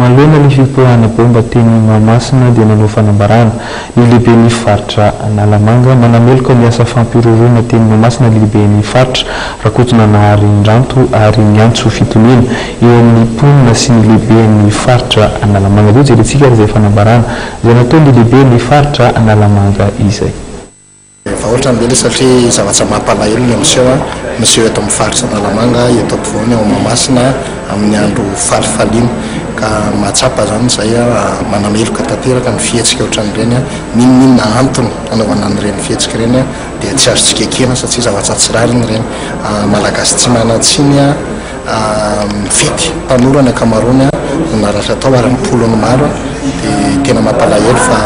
Manoloana ny fipoahana baomba teny Mahamasina dia nanao fanambarana ny lehiben'ny faritra Analamanga manameloka ny asa fampihorohoroana teny Mahamasina ny lehiben'ny faritra Rakotonanahary Ndranto ary miantso fitoniana eo amin'ny mponina sy ny lehiben'ny faritra Analamanga. Toa jerentsika ary izay fanambarana izay nataon'ny lehiben'ny faritra Analamanga izay. Efa otrany be le satria zavatra mampalahelo le miseho a, miseho eto amin'ny faritra Analamanga, eto ampovoany ao Mahamasina amin'ny andro falifaliana ka mahatsapa izany izay a, manameloka tanteraka ny fihetsika otran'ireny a, n'inon'inona antony anaovana an'ireny fihetsika ireny a dia tsy azo tsy kekena satria zavatra tsy rariny ireny, Malagasy tsy manan-tsiny a, mifety mpanoro ny ankamaroany a, no naratra tao ary ny mponiny maro a, dia tena mampalahelo fa.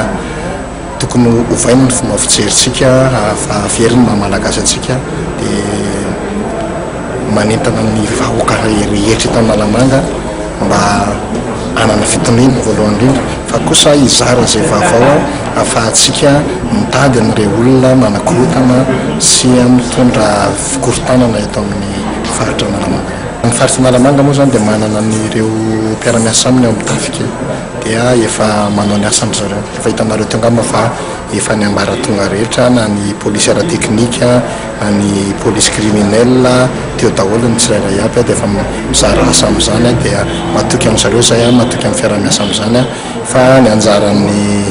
Tokony hovaina ny fomba fijerintsika raha very ny maha Malagasy antsika dia manentana ny vahoaka rehetra eto Analamanga mba hanana fitoniana voalohany indrindra fa kosa hizara izay vaovao ahafahantsika mitady an'ireo olona manakorontana sy mitondra fikorontanana eto amin'ny faritra Analamanga. Ny faritra Analamanga moa izany dia manana an'ireo mpiara-miasa aminy ao amin'ny tafika. dia efa manao ny asany ry zareo, efa hitanareo teo angamba fa efa ny ambaratonga rehetra na ny polisy ara teknika na ny polisy criminel teo daholo ny tsirairay aby dia efa mizara asa amin'izany dia matoky amin'i zareo izay, matoky amin'ny fiaraha-miasa amin'izany aho fa ny anjaran'ny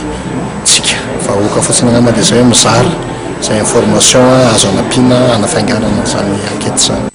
tsika vahoaka fotsiny angamba dia izay hoe mizara izay information azo anampiana hanafainganana izany enquete izany.